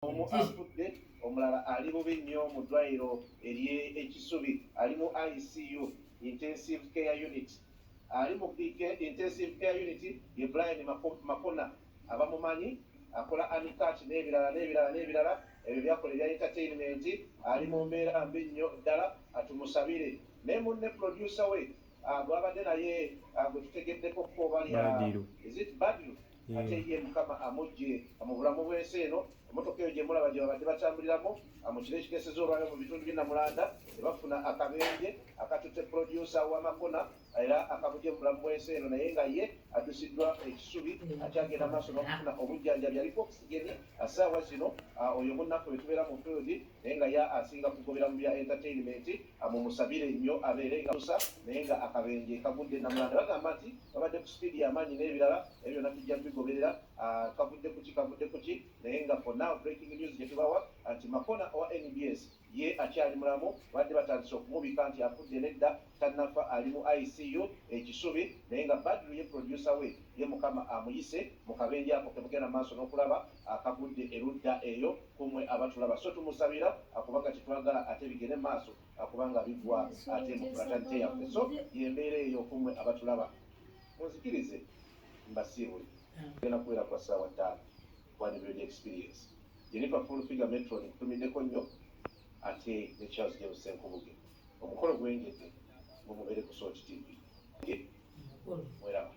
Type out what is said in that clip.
omu afudde omulala ali bubi nnyo mu ddwaliro erye ekisubi ali mu icu intensive care unit ali mu intensive care unit ye brian makona abamumanyi akola anikat n'ebirala n'ebirala n'ebirala ebyo byakola ebya entertainment ali mu mbeera mbi nnyo ddala atumusabire naye munne producer we ah, gwabadde naye ah, gwetutegeddeko kuba obalya is it badiru ate ye mukama amujje mu bulamu bw'ensi eno emotoka eyo gyemulaba gye babadde batambuliramu mu kiro ekikeeseza olwalyo mu bitundu bye namulanda ne bafuna akabenje akatutte producer w'amakona era akabuje mu bulamu bw'ensi eno naye nga ye addusiddwa ekisubi akyagenda maaso n'okufuna obujjanjabi aliko okisigeni asaawa zino oyo munnaku bwe tubeera mu field naye nga ya asinga kugobera mu bya entertainment amumusabire nnyo abeere nga musa naye nga akabenje kagudde namulanda bagamba nti babadde ku speed yamaanyi n'ebirala ebyo byonna tujja bigoberera ah, kavudde kuki kavudde kuki naye nga for now breaking news gye tubawa nti makona owa nbs ye akyali mulamu badde batandise okumubika nti afudde nedda tanafa ali mu ICU e Kisubi naye nga Badru ye producer we ye mukama amuyise mu kabenje ako kemugenda mu maaso n'okulaba akagudde erudda eyo ku mwe abatulaba so tumusabira kubanga kyetwagala ate bigende mu maaso kubanga bigwa ate mu fraternity yaffe so y'embeera eyo ku mwe abatulaba munzikirize mbasiibule genda kubeera kwa ssaawa ttaano Wandiberedde experience. Jennifer Full Figure Metro nkutumiddeko nnyo ate ne Charles James Ssenkubuge. Omukolo gwengedde mumubeere ku Salt TV. Mweraba.